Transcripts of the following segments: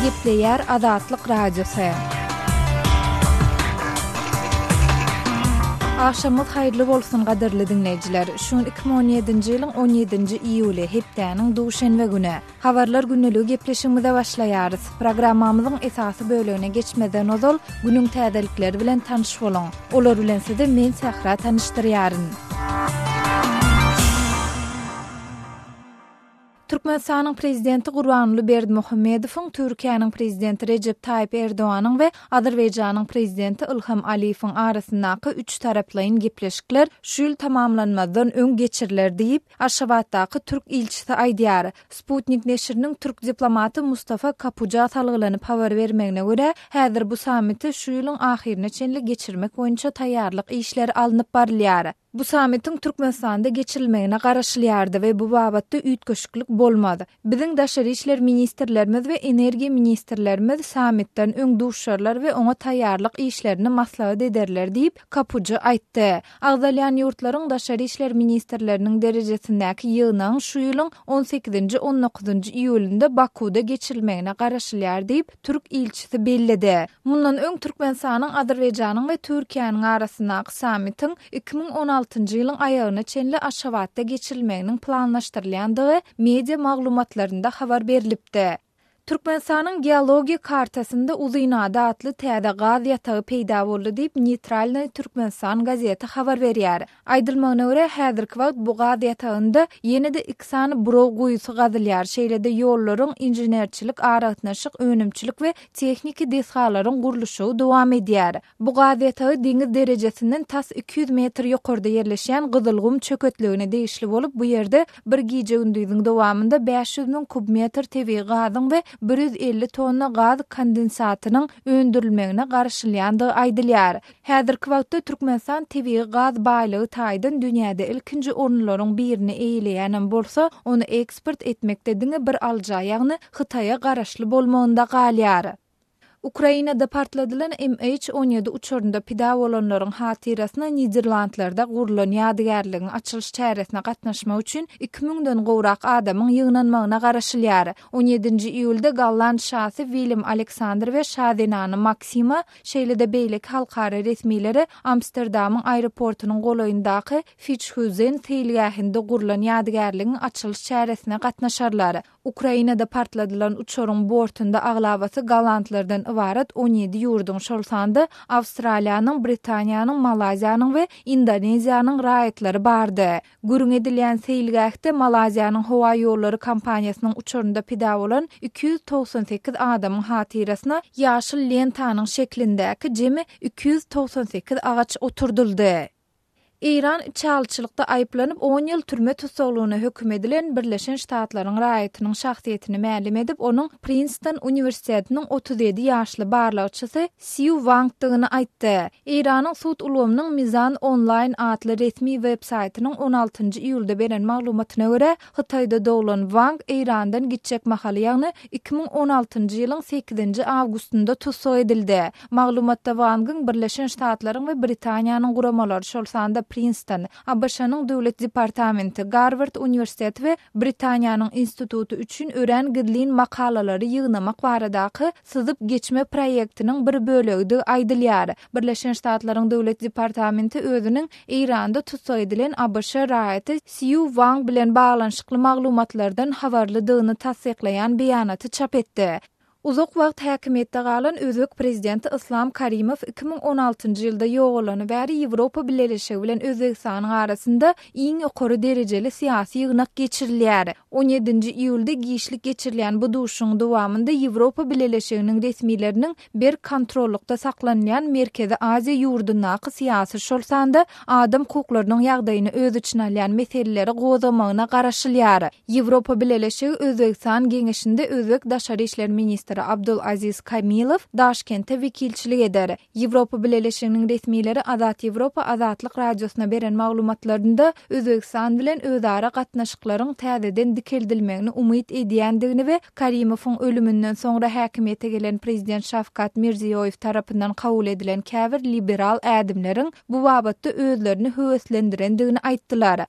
Gepleýär Azatlyk Radiosy. Agşamyňyz haýyrly bolsun gadyrly diňleýjiler. Şu gün iki müň on ýedinji ýylyň on ýedinji iýuly, hepdäniň duşenbe güni. Habarlar gündeliği gepleşigimize başlaýarys. Programmamyzyň esasy bölegine geçmezden ozal, günüň täzelikleri bilen tanyş boluň. Olar bilen sizi men Sähra tanyşdyrýaryn. Türkmenistanyň Prezidenti Gurbanguly Berdimuhamedowyň Türkiýäniň Prezidenti Rejep Taýyp Erdoganyň we Azerbaýjanyň Prezidenti Ilham Aliýewiň arasyndaky üç taraplaýyn gepleşikler şu ýyl tamamlanmazdan öň geçiriler diýip, Aşgabatdaky türk ilçisi aýdýar. Sputnik neşiriniň türk diplomaty Mustafa Kapuja salgylanyp habar bermegine görä, häzir bu sammiti şu ýylyň ahyryna çenli geçirmek boýunça taýýarlyk işleri alnyp barylýar. Bu sammitiň Türkmenistanda geçirilmegine garaşylýardy we bu babatda üýtgeşiklik bolmaz. Biziň daşary işler ministrlerimiz we energiýa ministrlerimiz sammitden öň duşarlar we oňa taýýarlyk işlerini maslahat ederler diýip, Kapuja aýtdy. Agzalýan ýurtlaryň daşary işler ministrleriniň derejesindäki ýygnagyň şu ýylyň on sekizinji, on dokuzynjy iýulynda Bakuwda geçirilmegine garaşylýar diýip, türk ilçisi belledi. Mundan öň Türkmenistanyň, Azerbaýjanyň we Türkiýäniň arasyndaky sammitiň iki müň on altynjy ýylyň aýagyna çenli Aşgabatda geçirilmeginiň planlaşdyrylýandygy media maglumatlarynda habar berlipdi. Türkmenistanyň geologiýa kartasynda Uzynada atly täze gaz ýatagy peýda boldy diýip, Neýtralnyý Türkmenistan gazeti habar berýär. Aýdylmagyna görä, häzirki wagt bu gaz ýatagynda ýene-de iki sany buraw guýusy gazylýar, şeýle-de ýollaryň, inženerçilik, aragatnaşyk, önümçilik we tehniki desgalaryň gurluşygy dowam edýär. Bu gaz ýatagy deňiz derejesinden tas iki ýüz metr ýokarda ýerleşýän Gyzylgum çöketligine degişli bolup, bu ýerde Bir gije-gündiziň dowamynda bäş ýüz müň kub metr tebigy gazyň we bir ýüz elli tonna gaz kondensatynyň öndürilmegine garaşylýandygy aýdylýar. Häzirki wagtda Türkmenistan tebigy gaz baýlygy taýdan dünýäde ilkinji orunlaryň birini eýeleýänem bolsa, ony eksport etmekde diňe bir alyja, ýagny Hytaýa garaşly bolmagynda galýar. Ukrainada partladylan MH on ýedi uçarynda pida bolanlaryň hatyrasyna Niderlandlarda gurlan ýadygärligiň açylyş çäresine gatnaşmak üçin iki müňden gowrak adamyň ýygnanmagyna garaşylýar. On ýedinji iýulda golland şasy Willem Aleksandr we şa zenany Maksima, şeýle-de beýleki halkara resmilere Amsterdamyň aeroportynyň golaýyndaky Fiçhuzen seýilgähinde gurlan ýadygärligiň açylyş çäresine gatnaşarlar. Ukrainada partladylan uçaryň bortunda aglabasy gollandlardan ybarat on ýedi ýurduň, şol sanda Awstraliýanyň, Britaniýanyň, Malaýziýanyň we Indoneziýanyň raýatlary bardy. Gürrüň edilýän seýilgähde Malaýziýanyň howa ýollary kompaniýasynyň uçarynda pida bolan iki ýüz togsan sekiz adamyň hatyrasyna ýaşyl lentanyň şeklindäki jemi iki ýüz togsan sekiz agaç oturdyldy. Eýran içalyçylykda aýyplanyp, on ýyl türme tussaglygyna höküm edilen Birleşen Ştatlaryň raýatynyň şahsyýetini mälim edip, onuň Prinston uniwersitetiniň otuz ýedi ýaşly barlagçysy Sýu Wangdygyny aýtdy. Eýranyň sud ulgamynyň Mizan Online atly resmi web-saýtynyň on altynjy iýulda beren maglumatyna görä, Hytaýda doglan Wang Eýrandan gitjek mahaly ýagny iki müň on altynjy ýylyň sekizinji awgustynda tussag edildi. Maglumatda Wangyň Birleşen Ştatlaryň we Britaniýanyň guramalary şol sanda Prinston, ABŞ-nyň Döwlet departamenti, Garward uniwersiteti we Britaniýanyň instituty üçin örän gizlin makalalary ýygnamak baradaky syzyp geçme proýektiniň bir bölegidigi aýdylýar. Birleşen Ştatlaryň Döwlet departamenti özüniň Eýranda tussag edilen ABŞ raýaty Sýu Wang bilen baglanyşykly maglumatlardan habarlydygyny tassyklaýan beýanaty çap etdi. Uzak wagt häkimiýetde galan özbek prezidenti Yslam Karimow iki müň on altynjy ýylda ýogalany bäri Ýewropa Bileleşigi bilen Özbegistanyň arasynda iň ýokary derejeli syýasy ýygnak geçirilýär. On ýedinji iýulda giçlik geçirilýän bu duşuşygyň dowamynda Ýewropa Bileleşiginiň resmileriniň berk kontrollykda saklanylýan Merkezi Aziýa ýurdundaky syýasy, şol sanda adam hukuklarynyň ýagdaýyny öz içine alýan meseleleri gozgamagyna garaşylýar. Ýewropa Bileleşigi Özbegistan geňeşinde özbek daşary işler ministri Abdulaziz Kamilow Daşkentde wekilçilik eder. Ýewropa Bileleşiginiň resmileri Azat Ýewropa Azatlyk Radiosyna beren maglumatlarynda Özbegistan bilen özara gatnaşyklaryň täzeden dikeldilmegini umyt edýändigini we Karimowyň ölüminden soňra häkimiýete gelen prezident Şawkat Mirziýoýew tarapyndan kabul edilen käbir liberal ädimleriň bu babatda özlerini höweslendirendigini aýtdylar.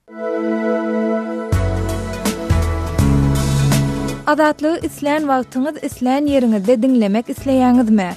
Azatlygy islän wagtyňyz islän ýeriňizde diňlemek isleýäňizmi?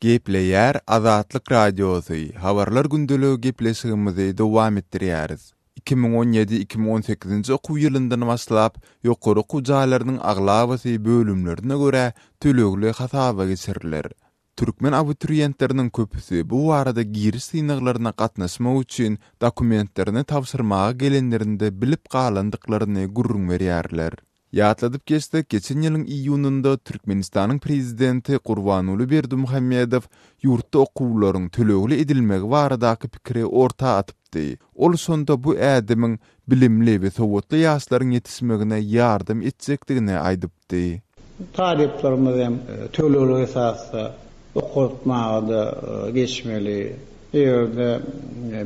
Gepleýär Azatlyk Radiosy, Habarlar gündeligi gepleşigimizi dowam etdirýäris. Iki müň on ýedi, iki müň on sekizinji okuw ýylyndan başlap, ýokary okuw jaýlarynyň aglabasy bölümlerine görä tölegli hasaba geçiriler. Türkmen abituriýentleriniň köpüsi bu barada giriş synaglaryna gatnaşmak üçin dokumentlerini tabşyrmaga gelenlerinde bilip galandyklaryny gürrüň berýärler. Ýatladyp geçsek, geçen ýylyň iýunynda Türkmenistanyň Prezidenti Gurbanguly Berdimuhamedow ýurtda okuwlaryň tölegli edilmegi baradaky pikiri orta atypdy. Ol şonda bu ädimiň bilimli we sowatly ýaşlaryň ýetişmegine ýardam etjekdigini aýdypdy. Talyplarymyz hem tölegli esasda okatmaga-da geçmeli. Eger-de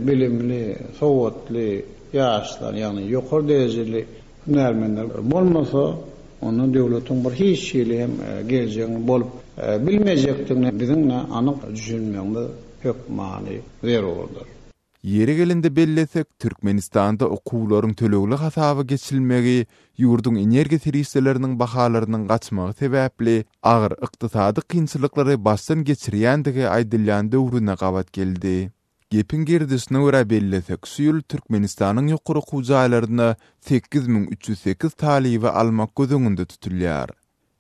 bilimli, sowatly ýaşlar, ýagny ýokary derejeli Hünärmenler bolmasa, onda döwletiň bir hiç hili hem geljegiň bolup bilmejekdigine biziň-de anyk düşünmegimiz hökmany zerurdyr. Ýeri gelende bellesek, Türkmenistanda okuwlaryň tölegli hasaba geçilmegi ýurduň energiýa serişdeleriniň bahalarynyň gaçmagy sebäpli agyr ykdysady kynçylyklary başdan geçirýändigi aýdylýan döwrüne gabat geldi. Gepiň girdişine görä bellesek, şu ýyl Türkmenistanyň ýokary okuw jaýlaryna sekiz müň üç ýüz sekiz talyby almak göz öňünde tutulýar.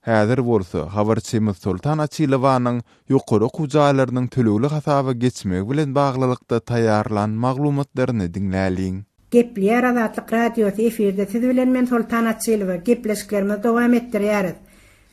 Häzir bolsa, habarçymyz Soltan Açylowanyň ýokary okuw jaýlarynyň tölegli hasaba geçmegi bilen baglylykda taýýarlan maglumatlaryny diňläliň. Gepleýär Azatlyk Radiosy efirde siz bilen men Soltan Açylowa gepleşiklerimizi dowam etdirýäris.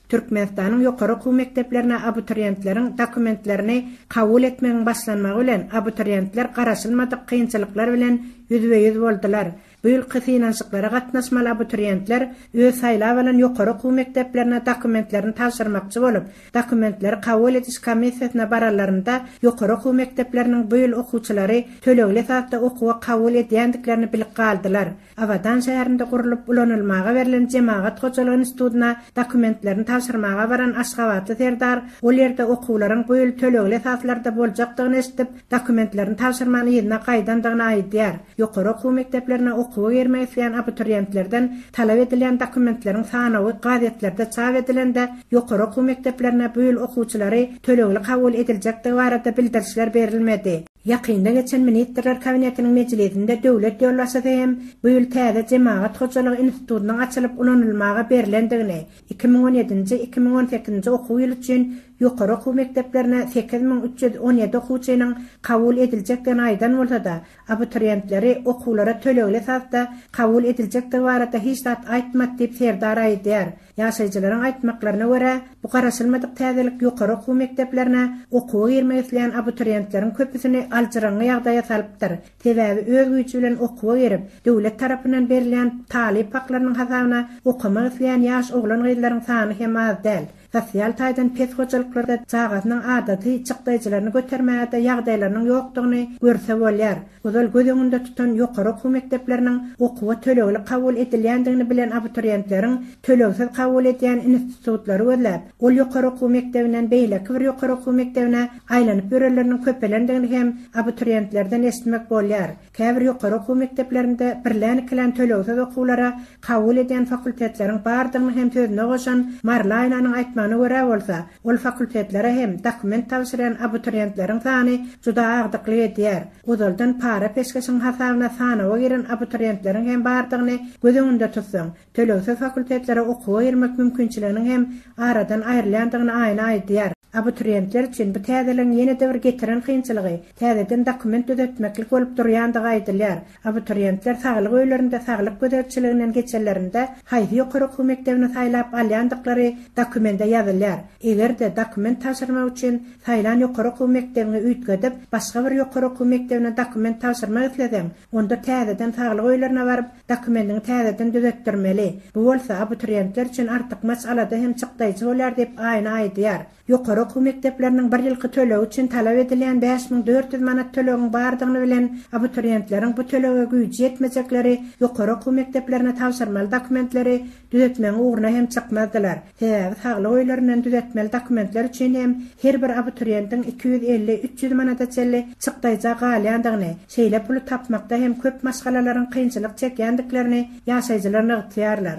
Türkmenistanyň ýokary okuw mekdeplerine abituriýentleriň dokumentlerini kabul etmegiň başlanmagy bilen abituriýentler garaşylmadyk kynçylyklar bilen ýüzbe-ýüz boldular. Bu ýylky synanyşyklara gatnaşmaly abituriýentler öz saýlap alan ýokary okuw mekdeplerine dokumentlerini tabşyrmakçy bolup, Dokumentleri kabul ediş komissiýasyna baranlarynda ýokary okuw mekdepleriniň bu ýyl okuwçylary tölegli esasda okuwa kabul edýändiklerini bilip galdylar. Abadan şäherinde gurlup ulanylmaga berlen Jemagat hojalygy institutyna dokumentlerini tabşyrmaga baran aşgabatly Serdar ol ýerde okuwlaryň bu ýyl tölegli esaslarda boljakdygyny eşidip, dokumentlerini tabşyrman yzyna gaýdandygyny aýdýar. Ýokary okuw mekdeplerine okuwa girmek isleýän abituriýentlerden talap edilýän dokumentleriň sanawy gazetlerde çap edilende, ýokary okuw mekdeplerine bu ýyl okuwçylary tölegli kabul ediljekdigi barada bildirişler berilmedi. Ýakynda geçen Ministrler Kabinetiniň mejlisinde döwlet ýolbaşçysy hem bu ýyl täze Jemagat hojalygy institutynyň açylyp ulanylmaga berlendigini, iki müň on ýedinji, iki müň on sekizinji okuw ýyly üçin ýokary okuw mekdeplerine sekiz müň üç ýüz on ýedi okuwçynyň kabul ediljekdigini aýdan bolsa-da, Abituriýentleri okuwlara tölegli esasda kabul ediljekdigi barada hiç zat aýtmady diýip, Serdar aýdýar. Ýaşaýjylaryň aýtmaklaryna görä, bu garaşylmadyk täzelik ýokary okuw mekdeplerine okuwa girmek isleýän abituriýentleriň köpüsini aljyraňňy ýagdaýa salypdyr, sebäbi öz güýji bilen okuwa girip, döwlet tarapyndan berilýän talyp haklarynyň hasabyna okamak isleýän ýaş oglan-gyzlaryň sany hem az däl. Sosial taýdan pes hojalyklarda çagasynyň adaty çykdaýjylaryny götermäge-de ýagdaýlarynyň ýokdugyny görse bolýar. Ozal göz öňünde tutan ýokary okuw mekdepleriniň okuwa tölegli kabul edilýändigini bilen abituriýentleriň tölegsiz kabul edýän institutlary gözläp, ol ýokary okuw mekdebinden beýleki bir ýokary okuw mekdebine aýlanyp ýörenleriniň köpelendigini hem abituriýentlerden eşitmek bolýar. Käbir ýokary okuw mekdeplerinde birlän-ikilän tölegsiz okuwlara kabul edýän fakultetleriň bardygyny hem sözüne goşan Marlaýnanyň aýtmagyna görä bolsa, ol fakultetlere hem dokument tabşyrýan abituriýentleriň sany juda agdyklyk edýär, ozaldan para peşgeşiň hasabyna sanawa giren abituriýentleriň hem bardygyny göz öňünde tutsaň, tölegsiz fakultetlere okuwa girmek mümkinçiliginiň hem aradan aýrylýandygyny aýna aýdýar. Abituriýentler üçin bu täzeligiň ýene-de bir getiren kynçylygy täzeden dokument düzetmeklik bolup durýandygy aýdylýar. Abituriýentler saglyk öýlerinde saglyk gözegçiliginden geçenlerinde haýsy ýokary okuw mekdebini saýlap alýandyklary dokumende ýazylýar. Eger-de, dokument tabşyrmak üçin saýlan ýokary okuw mekdebiňi üýtgedip, başga bir ýokary okuw mekdebine dokument tabşyrmak isleseň, Onda täzeden saglyk öýlerine baryp, dokumentini täzeden düzetdirmeli. Bu bolsa abituriýentler üçin artykmaç alada hem çykdaýjy bolýar diýip, Aýna aýdýar. Ýokary okuw mekdepleriniň bir ýylky tölegi üçin talap edilýän bäş müň dört ýüz manat tölegiň bardygyny bilen, abituriýentleriň bu tölege güýji ýetmejekleri, ýokary okuw mekdeplerine tabşyrmaly dokumentleri Düzetmegiň ugruna hem çykmazdylar. Sebäbi saglyk öýlerinden düzetmeli dokumentler üçin hem her bir abituriýentiň iki ýüz elli, üç ýüz manada çenli çykdaýja galýandygyny, şeýle puly tapmakda hem köp maşgalalaryň kynçylyk çekýändiklerini ýaşaýjylar nygtýarlar.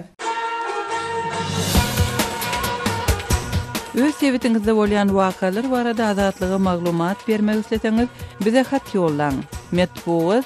Öz sebitiňizde bolýan wakalar barada Azatlyga maglumat bermek isleseňiz, bize hat ýollaň. Metbugat.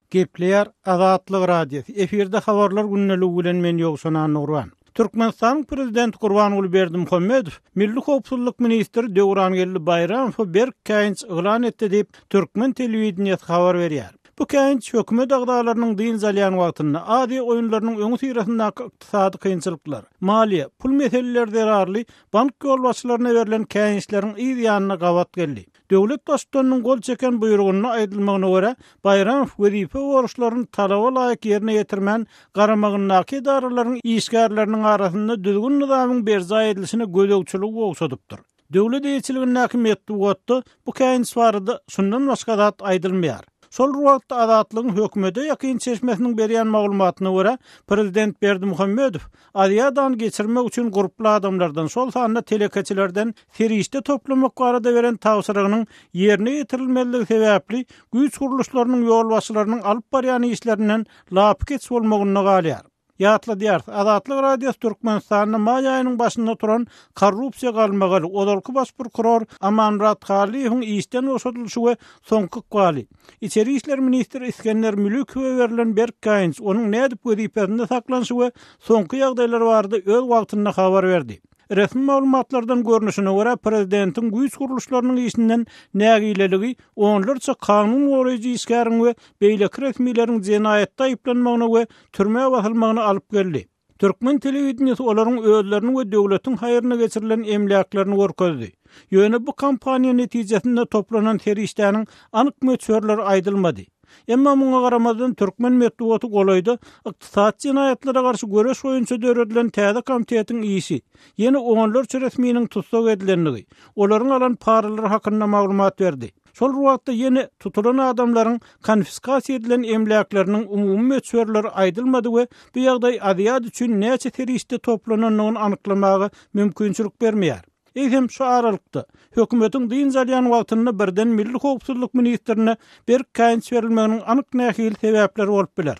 Gepleýär Azatlyk Radiosy, efirde Habarlar gündeliigi bilen men Ýowşan Annagurban. Türkmenistanyň Prezidenti Gurbanguly Berdimuhamedow Milli howpsuzlyk ministri Döwrangeldi Baýramowa berk käýinç yglan etdi diýip, türkmen telewideniýesi habar berýär. Bu käýinç hökümet agzalarynyň dynç alýan wagtynda Aziýa oýunlarynyň öňüsyrasyndaky ykdysady kynçylyklar, maliýe, pul meseleleri zerarly bank ýolbaşçylaryna berlen käýinçleriň yz ýanyna gabat geldi. Döwlet Baştutanynyň gol çeken buýrugynda aýdylmagyna görä, Baýramow wezipe borçlaryny talaba laýyk ýerine ýetirmän, garamagyndaky edaralaryň işgärleriniň arasynda düzgün-nyzamyň berjaý edilişine gözegçiligi ogşadypdyr. Döwlet eýeçiligindäki metbugatda bu käýinç barada şundan başga zat aýdylmaýar. Şol bir wagtda, Azatlygyň hökümete ýakyn çeşmesiniň berýän maglumatyna görä, prezident Berdimuhamedow Aziýadan geçirmek üçin gurply adamlardan, şol sanda telekeçilerden serişde toplamak barada beren tabşyrygynyň ýerine ýetirilmezligi sebäpli güýç gurluşlarynyň ýolbaşçylarynyň alyp barýan işlerinden lapykeç bolmagynda galýar. Ýatladýarys, Azatlyk Radiosy Türkmenistanda maý aýynyň başynda turan korrupsiýa galmagaly, ozalky baş prokuror Amanmyrat Hallyýewiň işden boşadylyşy we soňky ykbaly, Içeri işler ministri Isgender Mülükowe berlen berk gaýynç, onuň nädip wezipesinde saklanyşy we soňky ýagdaýlar barada öz wagtynda habar berdi. Resmi maglumatlardan görnüşine görä, prezidentiň güýç gurluşlarynyň işinden nägileligi onlarça kanun goraýjy işgäriň we beýleki resmileriň jenaýatda aýyplanmagyna we türmä basylmagyna alyp geldi. Türkmen telewideniýesi olaryň özlerini we döwletiň haýryna geçirilen emläklerini görkezdi. Ýöne bu kampaniýa netijesinde toplanan serişdäniň anyk möçberleri aýdylmady. Emma muňa garamazdan türkmen metbugaty golaýda ykdysady jenaýatlara garşy göreş boýunça döredilen täze komitetiň işi, ýene onlarça resminiň tussag edilendigi, olaryň alan paralary hakynda maglumat berdi. Şol bir wagtda ýene tutulan adamlaryň konfiskasiýa edilen emläkleriniň umumy möçberleri aýdylmady we bu ýagdaý aziýat üçin näçe serişde toplanandygyny anyklamaga mümkinçilik bermeýär. Eýsem, şu aralykda, hökümetiň dynç alýan wagtynda birden milli howpsuzlyk ministrine berk käýinç berilmeginiň anyk nähili sebäpleri bolup biler?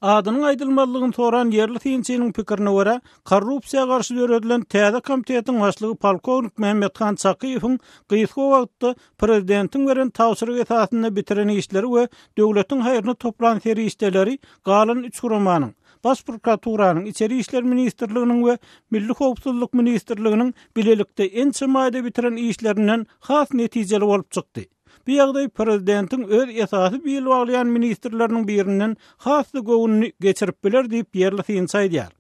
Adynyň aýdylmazlygyny soran ýerli synçynyň pikirine görä, korrupsiýa garşy döredilen täze komitetiň başlygy polkownik Mämmethan Çakyýewiň gysga wagtda prezidentiň beren tabşyrygy esasynda bitiren işleri we döwletiň haýryna toplan serişdeleri galan üç guramanyň, Baş prokuraturanyň, Içeri işler ministrliginiň we Milli howpsuzlyk ministrliginiň bilelikde ençeme aýda bitiren işlerinden has netijeli bolup çykdy. Bu ýagdaý prezidentiň öz esasy bil baglaýan ministrleriniň birinden has-da göwnüni geçirip biler diýip, ýerli synçy aýdýar.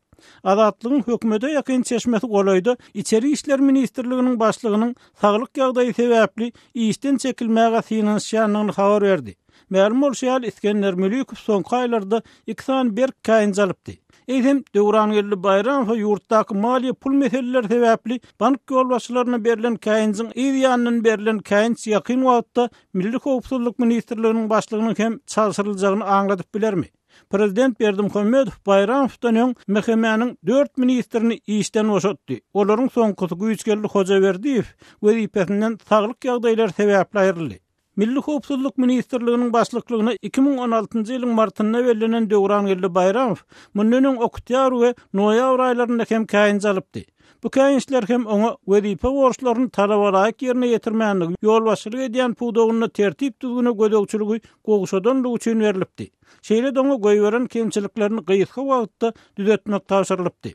Azatlygyň hökümete ýakyn çeşmesi golaýda Içeri işler ministrliginiň başlygynyň saglyk ýagdaýy sebäpli işden çekilmäge synanyşýandygyny habar berdi. Mälim bolşy ýaly, Isgender Mülikow soňky aýlarda iki sany berk käýinç alypdy. Eýsem, Döwrangeldi Baýramowa ýurtdaky maliýe pul meseleleri sebäpli bank ýolbaşçylaryna berlen käýinjiň yz ýanyndan berlen käýinç ýakyn wagtda Milli howpsuzlyk ministrliginiň başlygynyň hem çalşyryljagyny aňladyp bilermi? Prezident Berdimuhamedow Baýramowdan öň MHM-niň dört ministrini işden boşatdy. Olaryň soňkusy Güýçgeldi Hojaberdiýew wezipesinden saglyk ýagdaýlary sebäpli aýryldy. Milli howpsuzlyk ministrliginiň başlyklygyna iki müň on altynjy ýylyň martynda bellenen Döwrangeldi Baýramow mundan öň oktýabr we noýabr aýlarynda hem käýinç alypdy. Bu käýinçler hem oňa wezipe borçlaryny talabalaýyk ýerine ýetirmänligi, ýolbaşçylyk edýän pudagynda tertip-düzgüne gözegçiligi gowşadanlygy üçin berlipdi. Şeýle-de oňa goýberen kemçiliklerini gysga wagtda düzetmek tabşyrylypdy.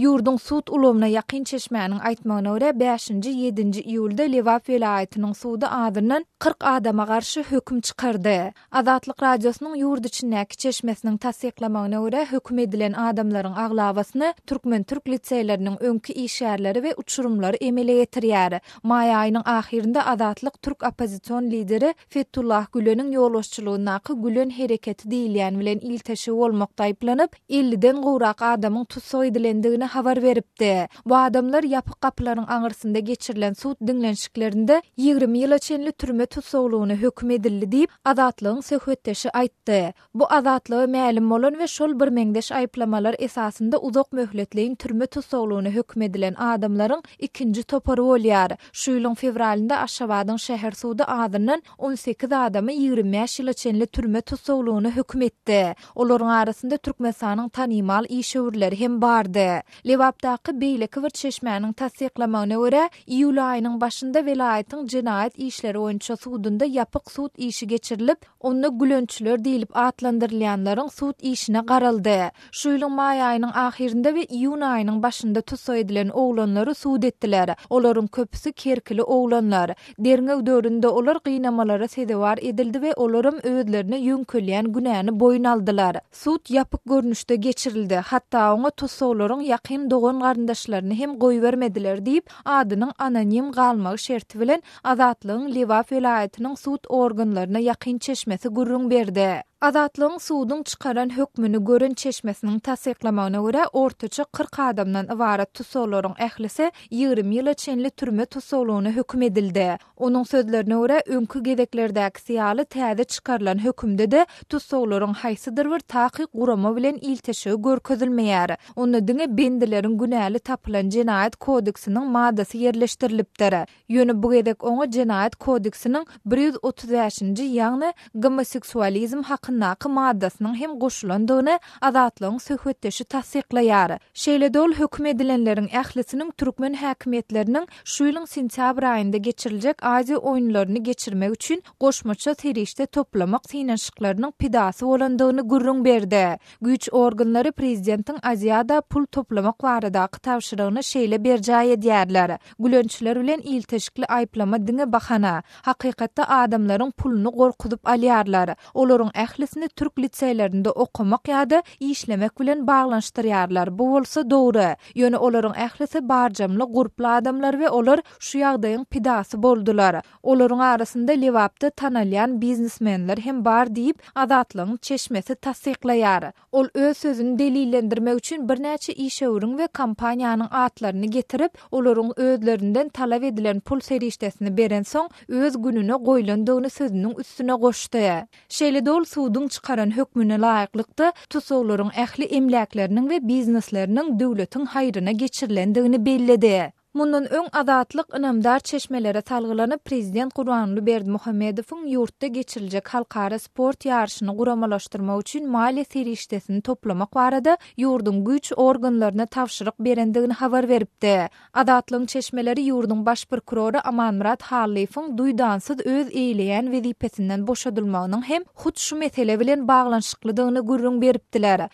Ýurduň sud ulgamyna ýakyn çeşmäniň aýtmagyna görä, bäşinji, ýedinji iýulda Lebap welaýatynyň sudy azyndan kyrk adama garşy höküm çykardy. Azatlyk Radiosynyň ýurt içindäki çeşmesiniň tassyklamagyna görä, höküm edilen adamlaryň aglabasyny türkmen-türk liseýleriniň öňki işgärleri we uçurymlary emele getirýär. Maý aýynyň ahyrynda Azatlyk türk oppozision lideri Fethullah Güleniň ýolbaşçylygyndaky Gülen hereketi diýilýän bilen ilteşigi bolmakda aýyplanyp, elliden gowrak adamyň tussag edilendigini habar beripdi. Bu adamlar ýapyk gapylaryň aňyrsynda geçirilen sud diňlenişiklerinde ýigrimi ýyla çenli türme tussaglygyna höküm edildi diýip, Azatlygyň söhbetdeşi aýtdy. Bu azatlygy mälim bolan we şol birmeňzeş aýyplamalar esasynda uzak möhletleýin türme tussaglygyna höküm edilen adamlaryň ikinji topary bolýar. Şu ýylyň fewralynda Aşgabadyň şäher sudy azyndan on sekiz adamy ýigrimi bäş ýyla çenli türme tussaglygyna höküm etdi. Olaryň arasynda Türkmenistanyň tanymal işewürleri hem bardy. Lebapdaky beýleki bir çeşmäniň tassyklamagyna görä, iýul aýynyň başynda welaýatyň jenaýat işleri boýunça sudunda ýapyk sud işi geçirilip, Onda gülençiler diýlip atlandyrylýanlaryň sud işine garaldy. Şu ýylyň maý aýynyň ahyrynda we iýun aýynyň başynda tussag edilen oglanlary sud etdiler. Olaryň köpüsi kerkili oglanlar. Derňew döwründe olar gynamalara sezewar edildi we olaram özlerine ýöňkelýän günäni boýun aldylar. Sud ýapyk görnüşde geçirildi, hatda oňa tussaglaryň ýakyn dogan-garyndaşlaryny hem goýbermediler diýip, adynyň anonim galmagy şerti bilen Azatlygyň Lebap welaýatynyň sud organlaryna ýakyn çeşmesi gürrüň berdi. Azatlygyň suduň çykaran hökmüni gören çeşmesiniň tassyklamagyna görä, ortaça kyrk adamdan ybarat tussaglaryň ählisi ýigrimi ýyla çenli türme tussaglygyna höküm edildi. Onuň sözlerine görä, öňki gezeklerdäkisi ýaly täze çykarylan hökümde-de tussaglaryň haýsydyr bir takyk gurama bilen ilteşigi görkezilmeýär. Onda diňe bendileriň günäli tapylan Jenaýat kodeksiniň maddasy ýerleşdirilipdir. Ýöne bu gezek oňa Jenaýat kodeksiniň bir ýüz otuz bäşinji, ýagny gomoseksualizm hakyndaky maddasynyň hem goşulandygyny Azatlygyň söhbetdeşi tassyklaýar. Şeýle-de ol höküm edilenleriň ählisiniň türkmen häkimiýetleriniň şu ýylyň sentýabr aýynda geçiriljek Aziýa oýunlaryny geçirmek üçin goşmaça serişde toplamak synanyşyklarynyň pidasy bolandygyny gürrüň berdi. Güýç organlary prezidentiň Aziada pul toplamak baradaky tabşyrygyny şeýle berjaý edýärler, Gülençler bilen ilteşikli aýyplama diňe bahana. Hakykatda adamlaryň puluny gorkuzyp alýarlar. Olaryň ählisini türk liseýlerinde okamak ýa-da işlemek bilen baglanyşdyrýarlar, bu bolsa dogry. Ýöne olaryň ählisi barjamly gurply adamlar we olar şu ýagdaýyň pidasy boldular. Olaryň arasynda Lebapda tanalýan biznesmenler hem bar diýip, Azatlygyň çeşmesi tassyklaýar. Ol öz sözüni delillendirmek üçin birnäçe işewüriň we kompaniýanyň atlaryny getirip, olaryň özlerinden talap edilen pul serişdesini berensoň, öz gününe goýlandygyny sözüniň üstüne goşdy. Şeýle-de ol suduň çykaran hökmüne laýyklykda, tussaglaryň ähli emläkleriniň we biznesleriniň döwletiň haýryna geçirilendigini belledi. Mundan öň Azatlyk ynamdar çeşmelere salgylanyp, prezident Gurbanguly Berdimuhamedowyň ýurtda geçiriljek halkara sport ýaryşyny guramalaşdyrmak üçin maliýe serişdesini toplamak barada ýurduň güýç organlaryna tabşyryk berendigini habar beripdi. Azatlygyň çeşmeleri ýurduň baş prokurory Amanmyrat Hallyýewiň duýdansyz öz eýleýän wezipesinden boşadylmagynyň hem hut şu mesele bilen baglanyşyklydygyny gürrüň beripdiler.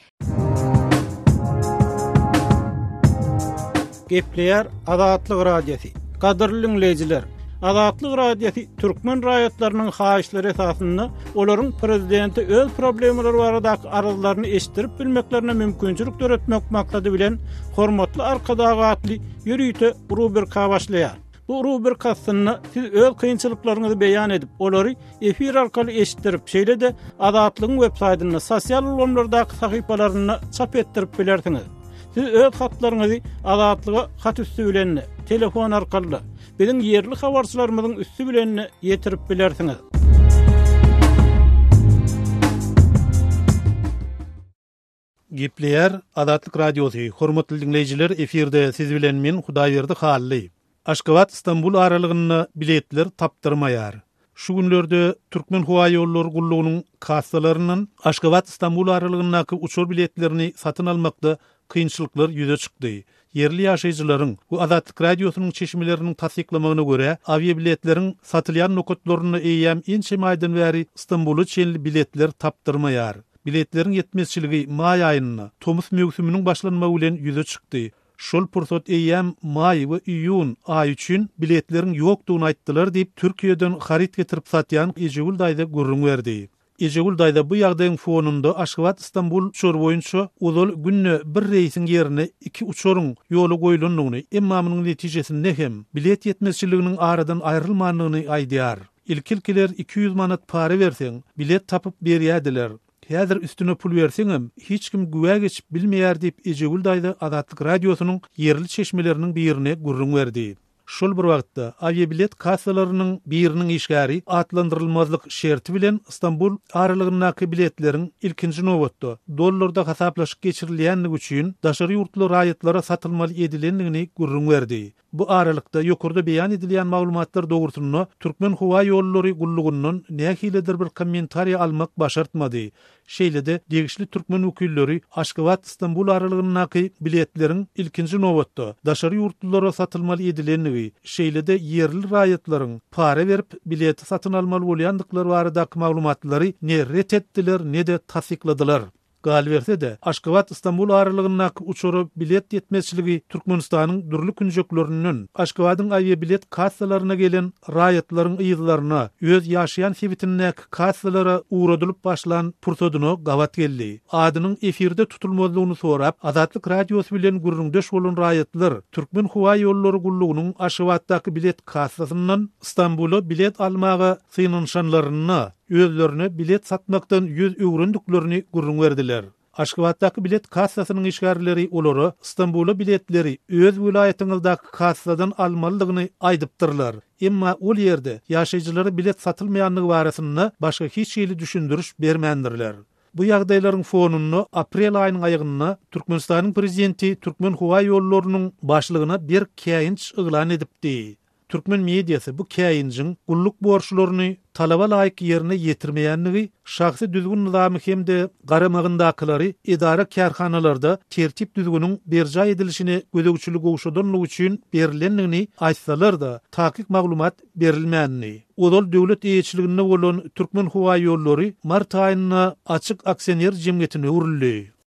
Gepleýär Azatlyk Radiosy. Gadyrly dinleýjiler, Azatlyk Radiosy türkmen raýatlarynyň haýyşlary esasynda olaryň prezidente öz problemalary baradaky arzlaryny eşitdirip bilmeklerine mümkinçilik döretmek maksady bilen Hormatly Arkadag atly ýörite rubrika başlaýar. Bu rubrik aslynda siz öz kynçylyklaryňyzy beýan edip, olary efir arkaly eşitdirip, şeýle-de Azatlygyň websaýtynda, sosial ulgamlardaky sahypalarynda çap etdirip bilersiňiz. Siz öz hatlaryňyzy Azatlyga hat üsti bilen, telefon arkaly, biziň ýerli habarçylarymyzyň üsti bilen ýetirip bilersiňiz. Gepleýär Azatlyk Radiosy, Hormatly diňleýjiler efirde siz bilen men Hudaýberdi Hally. Aşgabat Stambul aralygynda biletler tapdyrmaýar. Şu günlerde Türkmenhowaýollary gullugynyň kassalaryndan Aşgabat Stambul aralygyndaky uçar biletlerini satyn almakda kynçylyklar ýüze çykdy. Ýerli ýaşaýjylaryň we Azatlyk Radiosynyň çeşmeleriniň tassyklamagyna görä, awiabiletleriň satylýan nokatlarynda eýýäm ençeme aýdan bäri Stambula çenli biletler tapdyrmaýar. Biletleriň ýetmezçiligi maý aýynda, tomus möwsüminiň başlanmagy bilen ýüze çykdy. Şol pursat eýýäm maý we iýun aýy üçin biletleriň ýokdugyny aýtdylar diýip, Türkiýeden haryt getirip satýan Ejegül daýza gürrüň berdi. Ejegül daýza bu ýagdaýyň fonunda Aşgabat-Stambul uçary boýunça ozal günde bir reýsiň ýerine iki uçaryň ýola goýlandygyny, emma munuň netijesinde hem bilet ýetmezçiliginiň aradan aýrylmandygyny aýdýar. Ilki-ilkiler iki ýüz manat para berseň, bilet tapyp berýärdiler. Häzir üstüne pul berseňem, hiç kim güwä geçip bilmeýär diýip, Ejegül daýza Azatlyk Radiosynyň ýerli çeşmeleriniň birine gürrüň berdi. Şol bir wagtda, awiabilet kassalarynyň biriniň işgäri atlandyrylmazlyk şerti bilen Stambul aralygyndaky biletleriň, ilkinji nobatda, dollarda hasaplaşyk geçirilýändigi üçin, daşary ýurtly raýatlara satylmaly edilendigini gürrüň berdi. Bu aralykda, ýokarda beýan edilýän maglumatlar dogrusynda Türkmenhowaýollary gullugyndan nähilidir bir kommentariýa almak başartmady. Şeýle-de, degişli türkmen wekilleri Aşgabat-Stambul aralygyndaky biletleriň, ilkinji nobatda, daşary ýurtlulara satylmaly edilendigi, şeýle-de ýerli raýatlaryň para berip, bileti satyn almaly bolýandyklary baradaky maglumatlary ne ret etdiler, ne-de tassykladylar. Galyberse-de, Aşgabat-Stambul aralygyndaky uçara bilet ýetmezçiligi Türkmenistanyň dürli künjeklerinden Aşgabadyň awiabilet kassalaryna gelen raýatlaryň yzlaryna öz ýaşaýan sebitindäki kassalara ugradylyp başlan pursadyna gabat geldi. Adynyň efirde tutulmazlygyny sorap, Azatlyk Radiosy bilen gürrüňdeş bolan raýatlar Türkmenhowaýollary gullugynyň Aşgabatdaky bilet kassasyndan Stambula bilet almaga synanyşanlarynda, özlerine bilet satmakdan ýüz öwrendiklerini gürrüň berdiler. Aşgabatdaky bilet kassasynyň işgärleri olara Stambula biletleri öz welaýatyňyzdaky kassadan almalydygyny aýdypdyrlar. Emma ol ýerde ýaşaýjylara bilet satylmaýandygy barasynda başga hiç hili düşündiriş bermändirler. Bu ýagdaýlaryň fonunda aprel aýynyň aýagynda Türkmenistanyň prezidenti Türkmenhowaýollarynyň başlygyna bir käýinç yglan edipdi. Türkmen mediasy bu käýinjiň gulluk borçlaryny talaba laýyk ýerine ýetirmeýändigi, şahsy düzgün-nyzamy hem-de garamagyndakylary edara-kärhanalarda tertip-düzgüniň berjaý edilişine gözegçilik gowşadanlygy üçin berilendigini aýtsalar-da, takyk maglumat berilmändi. Ozal döwlet eýeçiliginde bolan Türkmenhowaýollary mart aýynda açyk aksioner jemgyýetine öwrüldi.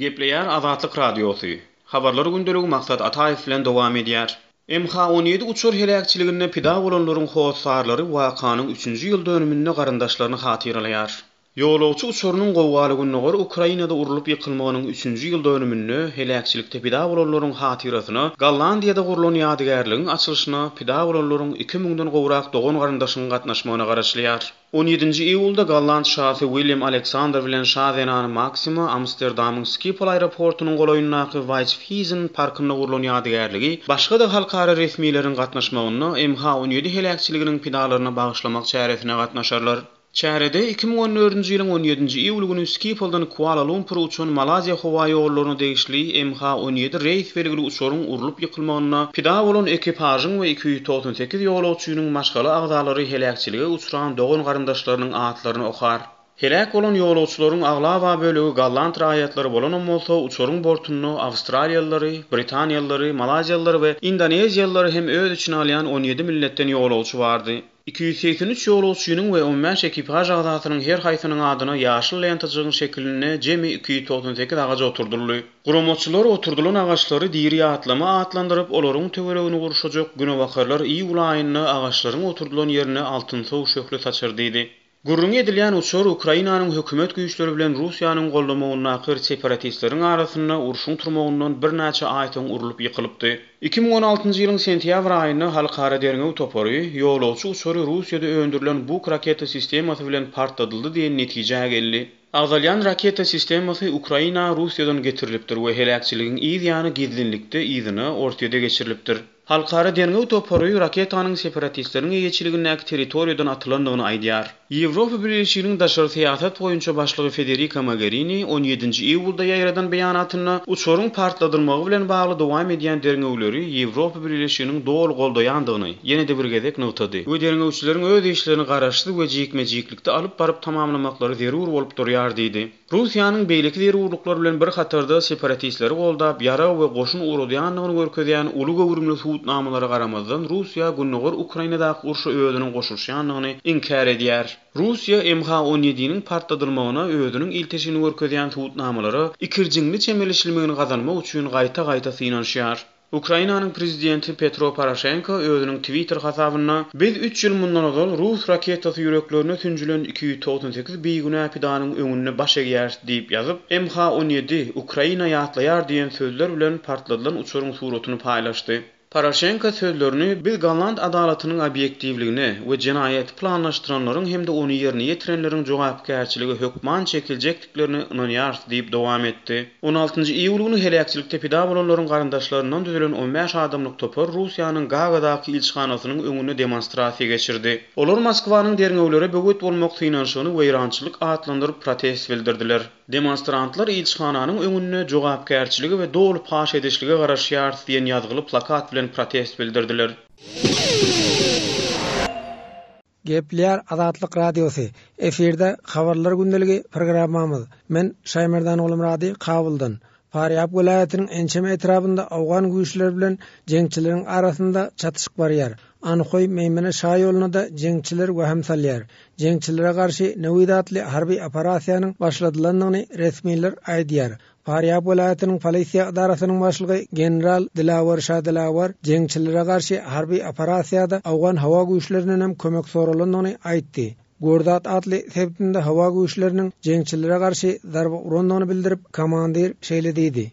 Gepleýär Azatlyk Radiosy, Habarlar gündeligi Maksat Ataýew bilen dowam edýär. MH on ýedi uçar heläkçiliginde pida bolanlaryň hossarlary wakanyň üçünji ýyl dönüminde garyndaşlaryny hatyralaýar. Ýolagçy uçarynyň gowgaly Gündogar Ukrainada urlup ýykylmagynyň üçünji ýyl dönüminde heläkçilikde pida bolanlaryň hatyrasyna Gollandiýada gurlan ýadygärligiň açylyşyna pida bolanlaryň iki müňden gowrak dogan-garyndaşyň gatnaşmagyna garaşylýar. On ýedinji iýulda golland şasy William Aleksandr bilen şa zenany Maksima Amsterdamyň Skipol aeroportunyň golaýyndaky Waýtfhizen parkynda gurlan ýadygärligi başga-da halkara resmileriň gatnaşmagynda MH on ýedi heläkçiliginiň pidalaryna bagyşlamak çäresine gatnaşarlar. Çärede iki müň on dördünji ýylyň on ýedinji iýuly güni Skipoldan Kuala-Lumpura uçan Malaýziýa howaýollaryna degişli MH on ýedi reýs belgili uçaryň urlup ýykylmagynda pida bolan ekipažyň we iki ýüz On sekiz ýolagçynyň maşgala agzalary heläkçilige uçran dogan-garyndaşlarynyň atlaryny okar. Heläk bolan ýolagçylaryň aglaba bölegi golland raýatlary bolanam bolsa, uçaryň bortunda awstraliýalylary, britaniýalylary, malaýziýalylary we indoneziýalylary hem öz içine alýan on ýedi milletden ýolagçy bardy. Iki ýüz segsen üç ýolagçynyň we on bäş ekipaž agzasynyň her haýsynyň adyna ýaşyl lentajygyň şekilinde jemi iki ýüz togsan sekiz agaç oturdyldy. Guramaçylar oturdylan agaçlary diri atlama atlandyryp, olaryň töweregini gurşajak günebakarlar iýul aýynda agaçlaryň oturdylan ýerine altynsow şöhle saçar diýdi. Gürrüňi edilýän uçar Ukrainanyň hökümet güýçleri bilen Russiýanyň goldamagyndakyr separatistleriň arasynda urşuň turmagyndan birnäçe aý soň urlup ýykylypdy. Iki müň on altynjy ýylyň sentýabr aýynda Halkara derňew topary, ýolagçy uçary Russiýada öndürilen Buk raketa sistemasy bilen partladyldy diýen netijä geldi. Agzalýan raketa sistemasy Ukraina Russiýadan getirilipdir we heläkçiligiň yz ýany gizlinlikde yzyna Orsýede geçirilipdir. Halkara derňew topary raketanyň separatistleriň eýeçiligindäki territoriýadan atylandygyny aýdýar. Ýewropa Bileleşiginiň daşary syýasat boýunça başlygy Federika Mogerini on ýedinji iýulda ýaýradan beýanatynda uçaryň partladylmagy bilen bagly dowam edýän derňewleri Ýewropa Bileleşiginiň doly goldaýandygyny ýene-de bir gezek nygtady we derňewçileriň öz işlerini garaşsyz we jikme-jiklikde Ýerlikde alyp baryp tamamlamaklary zerur bolup durýar diýdi. Russiýanyň beýleki zerurlyklar bilen bir hatarda separatistleri goldap, ýarag we goşun ugradýandygyny görkezýän uly göwrümli subutnamalara garamazdan Russiýa gündogar Ukrainadaky urşa özüniň goşulyşýandygyny inkär edýär. Russiýa MH on ýediniň partladylmagyna özüniň ilteşigini görkezýän subutnamalara ikirjiňli çemeleşilmegini gazanmak üçin gaýta-gaýta synanyşýar. Ukrainanyň prezidenti Petro Poroşenko özüniň Twitter hasabynda Biz üç ýyl mundan ozal rus raketasy ýüreklerine sünjülen iki ýüz togsan sekiz bigünä pidanyň öňünde baş egýäris diýip ýazyp, MH on ýedi, Ukraina ýatlaýar diýen sözler bilen partladylan uçaryň suratyny paýlaşdy. Poroşenko sözlerini Biz golland adalatynyň obýektiwligine we jenaýaty planlaşdyranlaryň hem-de ony ýerine ýetirenleriň jogapkärçilige hökman çekiljek etdiklerine ynanýarys diýip dowam etdi. On altynjy iýul güni heläkçilikde pida bolanlaryň garyndaşlaryndan düzülen on bäş adamlyk topar Russiýanyň Gagadaky ilçihanasynyň öňünde demonstrasiýa geçirdi. Olar Moskwanyň derňewlere böwet bolmak synanyşygyny weýrançylyk atlandyryp protest bildirdiler. Demonstrantlar ilçihananyň öňünde Jogapkärçilige we doly paş edişlige garaşýarys diýen ýazgyly plakat bilen protest bildirdiler. Geplär Azatlyk Radiosy, Efirde Habarlar gündeligi programmamyz. Men Şaýmerdan Gulumrady Kabuldan. Parýap welaýatynyň ençeme etrabynda owgan güýçleri bilen jeňçileriň arasynda çatyşyk barýar. Anhoý, Meýmene şaýoluna-da jeňçiler wähim salýar. Jeňçilere garşy Newid atly harby operasiýanyň başladylandygyny resmiler aýdýar. Farýab welaýatynyň polisiýa edarasynyň başlygy general Dilawar Şadilawar jeňçilere garşy harby operasiýada Owgan howa güýçlerinden hem kömek soralandygyny aýtdy. Gurdat atly sebitinde howa güýçleriniň jeňçilere garşy zarba urandygyny bildirip, komandir şeýle diýdi.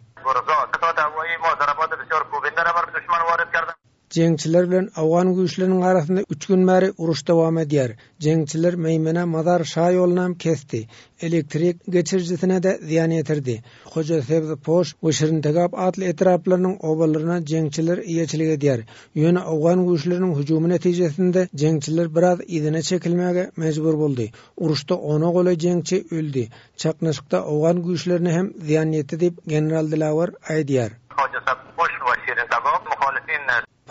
Jeňçiler bilen owgan güýçleriniň arasynda üç gün bäri uruş dowam edýär. Jeňçiler Meýmene Mazar Şa ýolunam kesdi. Elektrik geçirijisine-de zyýan ýetirdi. Hoja Sebz Poş we Şirintegap atly etraplarynyň obalaryna jeňçiler eýeçilik edýär. Ýöne owgan güýçleriniň hüjümi netijesinde jeňçiler biraz yzyna çekilmäge mejbur boldy. Uruşda ona golaý jeňçi öldi. Çaknyşykda owgan güýçlerine hem zyýan ýetdi diýip, general Dilawar aýdýar.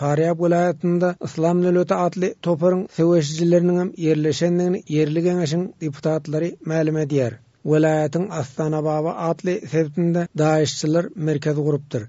Farýab welaýatynda Yslam döwleti atly toparyň söweşijileriniň hem ýerleşendigini ýerli geňeşiň deputatlary mälim edýär. Welaýatyň Astanababa atly sebtinde daişçiler merkez gurupdyr.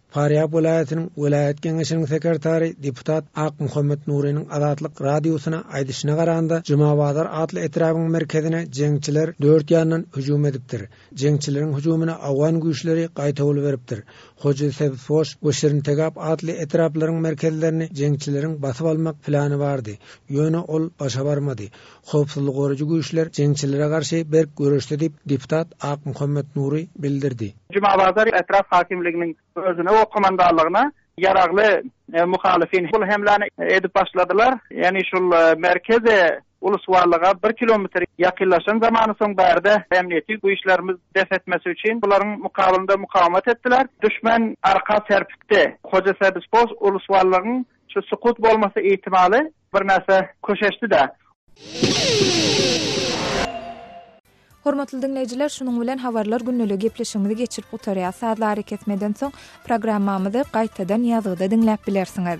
Farýap welaýatynyň welaýat Geňeşiniň sekretary, deputat Akmuhammet Nurynyň Azatlyk Radiosyna aýdyşyna garanda, Jumabazar atly etrabyň merkezine jeňçiler dört ýandan hüjüm edipdir. Jeňçileriň hüjümine awgan güýçleri gaýtawul beripdir. Hoji Sebzpoş we Şirintegap atly etraplaryň merkezlerini jeňçileriň basyp almak plany bardy, ýöne ol başa barmady. Howpsuzlygy goraýjy güýçler jeňçilere garşy berk göreşdi diýip, deputat Akmuhammet Nury bildirdi. Jumabazar etrap hakimliginiň özüne we komandanlygyna ýaragly muhalyfyn bul hemläni edip başladylar. Ýagny şul merkezi ulusbarlyga bir kilometr ýakynlaşan zamany soň bärde ämniýeti güýçlerimiz bes etmesi üçin bularyň mukabylynda mukawemat etdiler. Düşmen arka serpikdi. Hoja Sebizpos ulusbarlygyň şu sukut bolmasy ihtimaly Birnäçe köşeşdi-de. Hormatly diňleýjiler, şunuň bilen Habarlar gündeligiň gepleşigimizi geçirip gutarýas. Sazly arakesmeden soň programmamyzy gaýtadan ýazgyda diňläp bilersiňiz.